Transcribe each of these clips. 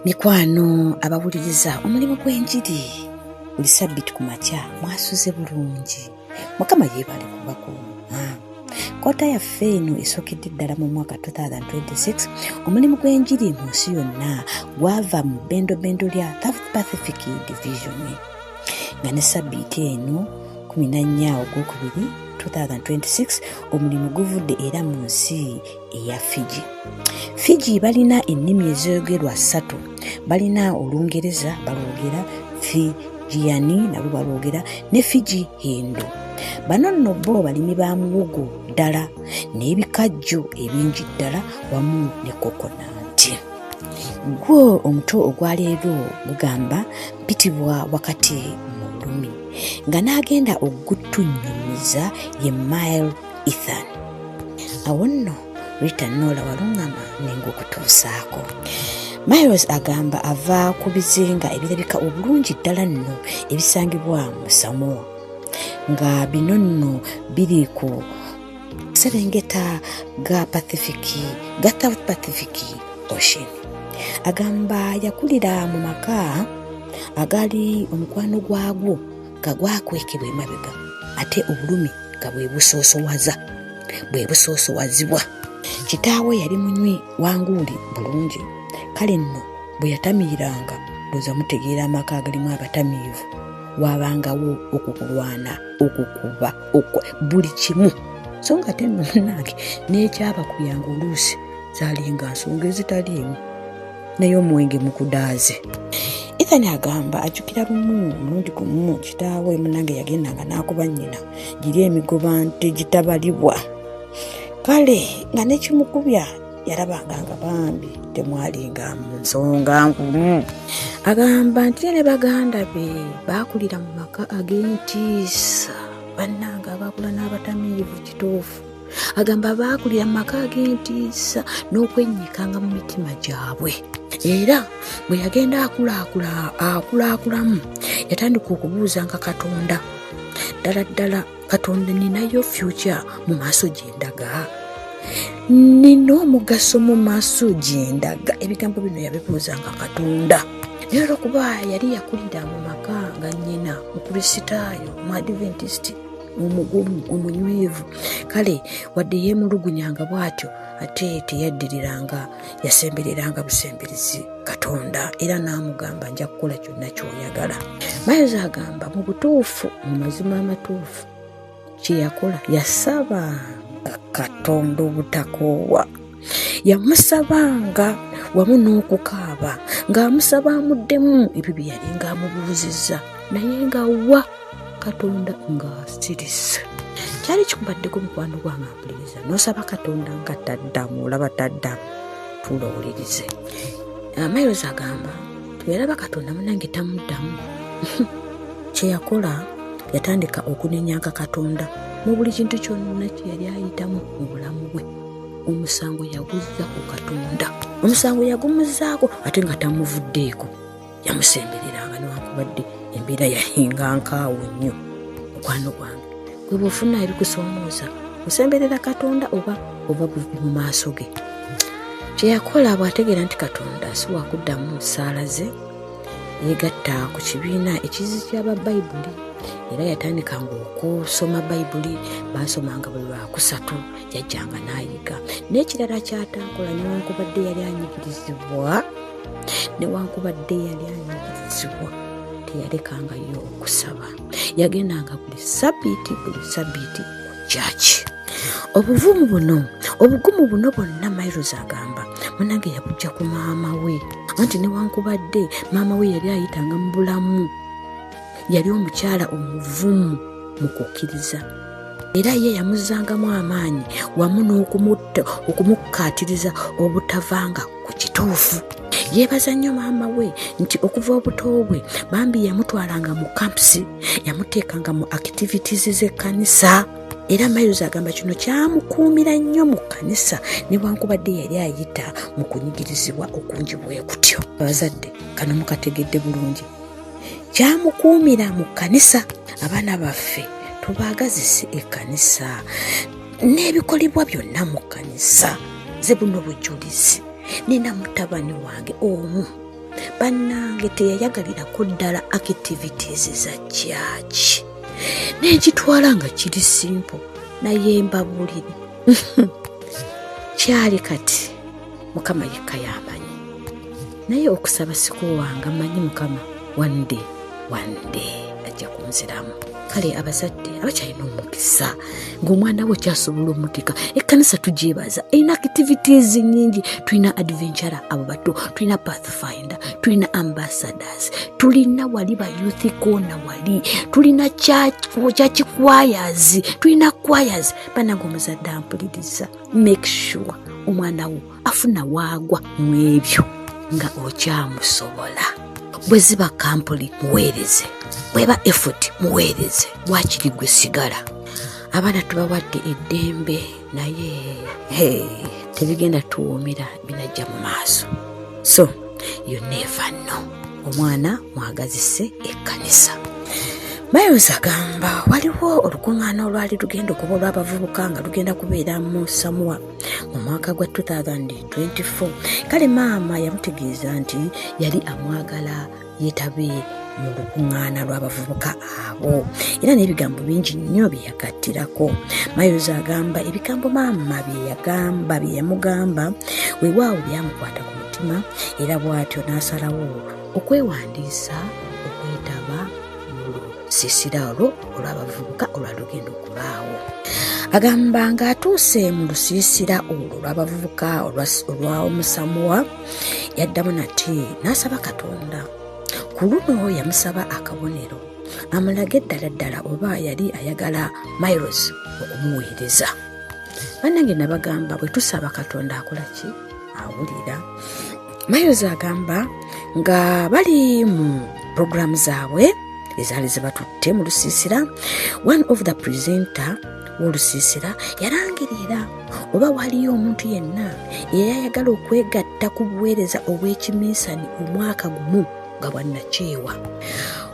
mikwano abawuliriza omulimu gw'enjiri buli sabbiti ku makya mwasuze bulungi mukama yeebale kubakuuma kota yaffe eno esookedde ddala mu mwaka 2026 omulimu gw'enjiri mu nsi yonna gwava mu bendobendo lya south pacific division nga ne sabbiiti eno 14 ogwokubiri 2026 omulimu guvudde era mu nsi eya fiji fiji balina ennimi ezoyogerwa ssatu balina olungereza balwogera fijiyani nabo balwogera ne fiji hindu bano nno bo balimi ba muwogo ddala n'ebikajjo ebingi ddala wamu ne kokonanti gwo omuto ogwaleero gugamba bitibwa wakati mu lulumi nga n'agenda okutunnyumiza ye mile ethan awo nno rita noola waluŋŋama nengaokutuusaako miles agamba ava ku bizinga ebirabika obulungi ddala nno ebisangibwa mu samoa nga bino nno biri ku serengeta ga pacific ga south pacific ocean agamba yakulira mu maka agaali omukwano gwagwo nga gwakwekebwa emabega ate obulumi nga bwe busoosowaza bwe busoosowazibwa kitaawe yali munywi wanguuli bulungi kale nno bwe yatamiiranga lwoza mutegeera amaka agalimu abatamiivu wabangawo okukulwana okukuba buli kimu so nga te nno munange nekyabakuyanga oluusi zalinga nsonga ezitaliimu naye omwenge mukudaaze ethan agamba ajjukira lumu omulundi gumu kitaawe munange yagendanga n'akuba nnyina giri emigoba nte gitabalibwa kale nga nekimukubya yarabanga nga bambi temwalinga mu nsonga nkulu agamba nti ne baganda be baakulira mu maka ag'entiisa bannanga abaakula n'abatamiivu kituufu agamba baakulira mu maka ag'entiisa n'okwennyikanga mu mitima gyabwe era bwe yagenda akulaakulaamu yatandika okubuuzanga katonda ddala ddala katonda ninayo fyukya mu maaso gyendaga nina omugaso mu maaso gyendaga ebigambo bino yabibuuza nga katonda naye olwokuba yali yakulira mu maka nga nyina mukristaayo mu adventist omugumu omunywevu kale wadde yemulugunyanga bwatyo ate teyaddiriranga yasembereranga busemberezi katonda era n'amugamba nja kukola kyonna kyoyagala mayozi agamba mu butuufu mu mazima amatuufu kyeyakola yasabanga katonda obutakoowa yamusabanga wamu n'okukaaba ng'amusaba amuddemu ebyo bye yali ng'amubuuzizza naye nga wa katonda nga asirisi kyali kikubaddeko mukwano gwange ampuliriza nosaba katonda nga taddamu olaba taddamu tuula owulirize amairozi ah, agamba tweraba katonda munange tamuddamu kyeyakola yatandika okunenyanka katonda mu buli kintu kyonna kyeyali ayitamu mu bulamu bwe omusango yaguzza ku katonda omusango yagumuzaako ate nga tamuvuddeeko yamusembereranga newakubadde embeera yahinga nkaawo nnyo mukwano gwange gwe bwofuna ebikusomooza osemberera katonda oba oba buvi mu maaso ge kyeyakola bw'ategeera nti katonda si wakuddamu saala ze yegatta ku kibiina ekizi kyaba bayibuli era yatandikanga okusoma bayibuli baasomanga buli lwakusatu yajjanga n'ayiga n'ekirala kyataakola newankubadde yali anyigirizibwa newankubadde yali anyigizibwa teyalekangayo okusaba yagendanga buli sabiiti buli sabiiti kyaki obuvumu buno obugumu buno bwonna mairos agamba munange yakujja ku maama we anti newankubadde maama we yali ayitanga mu bulamu yali omukyala omuvumu mu kukkiriza era ye yamuzzangamu amaanyi wamu n'okumutta okumukkaatiriza obutavanga ku kituufu yeebaza nnyo maama we nti okuva obuto bwe bambi yamutwalanga mu kampusi yamuteekanga mu activities z'ekkanisa era miles agamba kino kyamukuumira nnyo mu kkanisa newankubadde yali ayita mu kunyigirizibwa okungi bwe kutyo abazadde kano mukategedde bulungi kyamukuumira mu kkanisa abaana baffe tubaagazise ekkanisa n'ebikolebwa byonna mu kkanisa ze buno bujulizi nina mutabani wange omu bannange teyayagalirako ddala activities za kyaki n'ekitwala nga kiri simpo naye mbabulire kyali kati mukama yekka yamanyi naye okusaba sikuwanga manyi mukama one day one day ajja kunziramu kale abazadde abakyalina omukisa ngaomwana we kyasobola omutika ekkanisa tugyebaza erina activities nyingi tulina adventure abo bato tulina pathfinder tulina ambassadors tulina wali ba youth kona wali tulina kyakikwayazi tulina kwayazi banange omuzadde ampuliriza make sure omwana wo afuna waagwa mu ebyo nga okyamusobola bwe ziba kampuni muweereze bweba effort muweereze wakiri gwe sigala abaana tubawadde eddembe naye tebigenda tuwuumira binajja mu maaso so you never know omwana mwagazise ekkanisa miles agamba waliwo olukuŋŋaana olwali lugenda okuba olw'abavubuka nga lugenda kubeera mu samuwa mu mwaka gwa 2024 kale maama yamutegeeza nti yali amwagala yetabe mu lukuŋŋaana lw'abavubuka abo era n'ebigambo bingi nnyo bye yagattirako mayozi agamba ebigambo maama bye yagamba bye yamugamba wewaawo byamukwata ku mutima era bw'atyo n'asalawo okwewandiisa lusisira olwo olw'abavubuka olwalugenda okubaawo agamba ng'atuuse mu lusiisira olwo olw'abavubuka olwa omusamuwa yaddamu nati n'asaba katonda ku luno yamusaba akabonero amulage ddala ddala oba yali ayagala miles okumuweereza bannange nabagamba bwe tusaba katonda akola ki awulira miles agamba nga bali mu puroguramu zaabwe ezaali zibatutte mu lusiisira one of the presenter wolusiisira yalangirira oba waliyo omuntu yenna eyayagala okwegatta ku buweereza obw'ekiminsani omwaka gumu nga bwannakyewa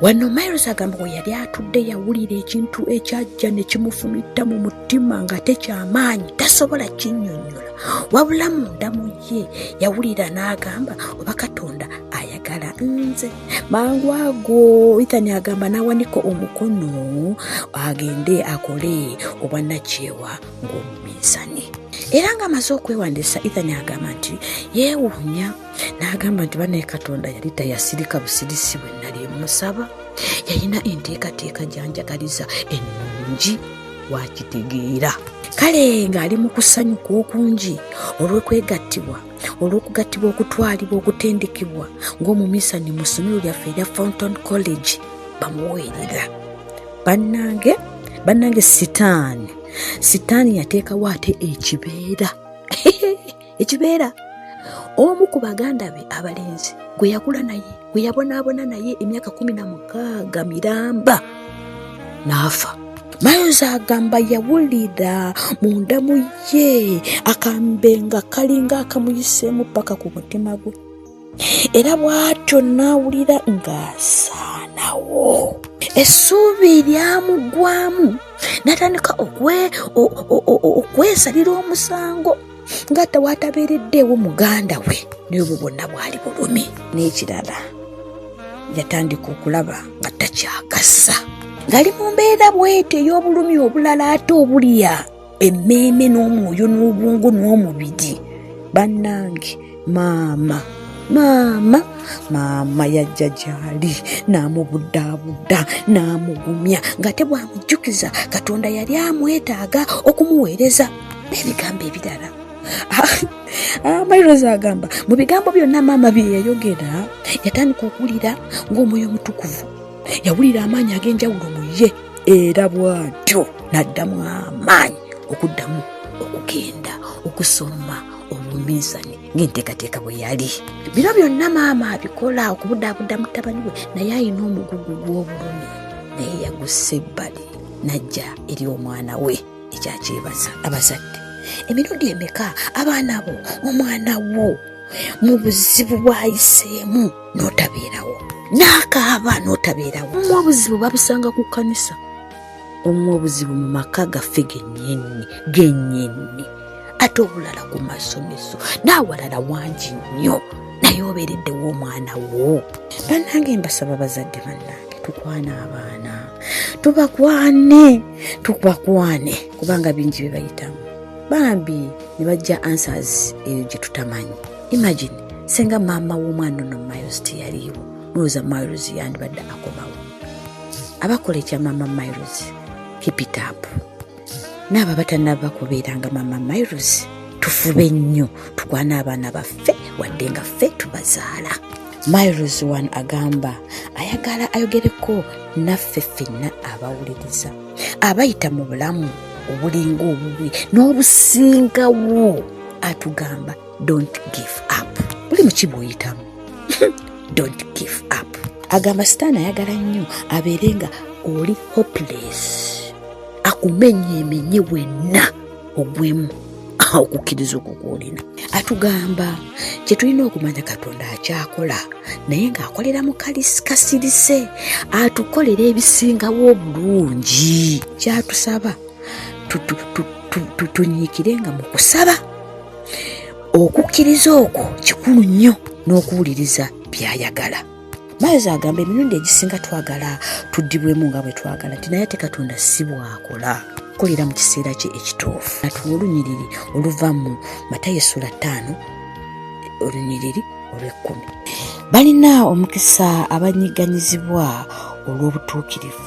wano miles agamba we yali atudde yawulira ekintu ekyajja ne kimufumitta mu mutima nga tekyamaanyi tasobola kinyonyola wabula munda mu ye yawulira n'agamba oba katonda ayagala nze mangu ago ithani agamba n'awanika omukono agende akole obwannakyewa ng'omuminsani era ng'amaze okwewandiisa ithani agamba nti yeewuunya n'agamba nti banaye katonda yali tayasirika busirisi bwe nali musaba yalina enteekateeka gyanjagaliza ennungi wakitegeera kale ng'ali mu kusanyuka okungi olw'okwegattibwa olw'okugattibwa okutwalibwa okutendekebwa ng'omumisani mu ssomero lyaffe erya fountain college bamuweerera bannange bannange sitaani sitaani yateekawo ate ekibeera ekibeera omu ku baganda be abalenzi gwe yakula naye gwe yabonaabona naye emyaka kumi na mukaaga miramba n'afa mayozi agamba yawulira mu ndamu ye akambe nga kalinga akamuyiseemu paka ku mutima gwe era bw'atyo n'awulira ng'asaanawo essuubi lyamuggwamu n'atandika okwesalira omusango nga tewatabiriddeewo muganda we naye obwo bwonna bwali bulumi n'ekirala yatandika okulaba nga takyakasa ngali mu mbeera bwete ey'obulumi obulala ate obulya emmeeme n'omwoyo n'obwongo n'omubiri bannange maama maama maama yajja gyali n'amubuddabudda n'amugumya nga te bwamujjukiza katonda yali amwetaaga okumuweereza n'ebigambo ebirala amairozi ah, ah, agamba mu bigambo byonna maama bye yayogera yatandika okuwulira ng'omwoyo omutukuvu yawulira amaanyi ag'enjawulo mu ye era bw'atyo n'addamu amaanyi okuddamu okugenda okusoma obuminsani ng'enteekateeka bwe yali biro byonna maama abikola okubudaabuda mutabani we naye alina omugugu gw'obulumi naye yagussa ebbali n'ajja eri omwana we ekyakyebaza abazadde emirundi emeka abaana bo omwana wo mu buzibu bwayiseemu n'otabeerawo n'akaaba n'otabeerawo obuzibu babusanga ku kkanisa omu obuzibu mu maka gaffe gennyinni gennyinni ate obulala ku masomero n'awalala wangi nnyo naye obeereddewo omwana wo bannange mbasaba bazadde bannange tukwana abaana tubakwane tubakwane kubanga bingi bye bayitamu bambi ne bajja answers eyo gye tutamanyi imagine senga maama w'omwana ono miles teyaliiwo mulowooza miles yandibadde akomawo abakola ekya mama miles kipitapu naabo abatanaba kubeeranga mama miles tufube nnyo tukwana abaana baffe wadde nga ffe tubazaala miles one agamba ayagala ayogereko naffe fenna abawuliriza abayita mu bulamu obulinga obubi n'obusingawo atugamba don't give up buli muki bwoyitamu don't give up agamba sitaani ayagala nnyo abeere nga oli hopeless akumenye emenye wenna ogwemu okukkiriza okwo kwolina atugamba kye tulina okumanya katonda akyakola naye ng'akolera mu kasirise atukolera ebisingawo obulungi kyatusaba tunyiikire nga mu kusaba okukkiriza okwo kikulu nnyo n'okuwuliriza byayagala mayozi agamba emirundi egisinga twagala tuddibwemu nga bwe twagala nti naye ate katonda si bwakola kukolera mu kiseera kye ekituufu natuwa olunyiriri oluva mu matayo essula ttaano olunyiriri olw'ekkumi balina omukisa abanyigganyizibwa olw'obutuukirivu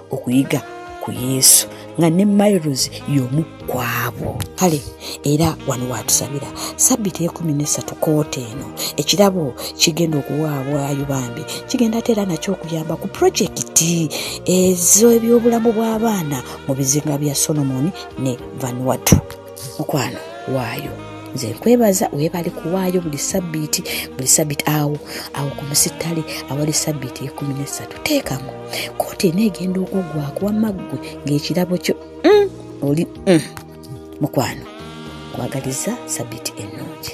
okuyiga ku yesu nga ne miles yomu kwabo kale era wano watusabira sabbiti ekumi nesatu koota eno ekirabo kigenda okuwaabwayo bambi kigenda ate era nakyo okuyamba ku projekiti ezoebyobulamu bw'abaana mu bizinga bya solomoni ne vanwatu mukwano waayo nze nkwebaza webale kuwaayo buli sabbiiti buli sabbiiti awo awo ku musittale awali sabbiiti ekumi nesatu teekamu kooti eneegenda okuggwako wamaggwe ng'ekirabo kyo mm, oli mm, mukwano kwagaliza sabbiiti ennungi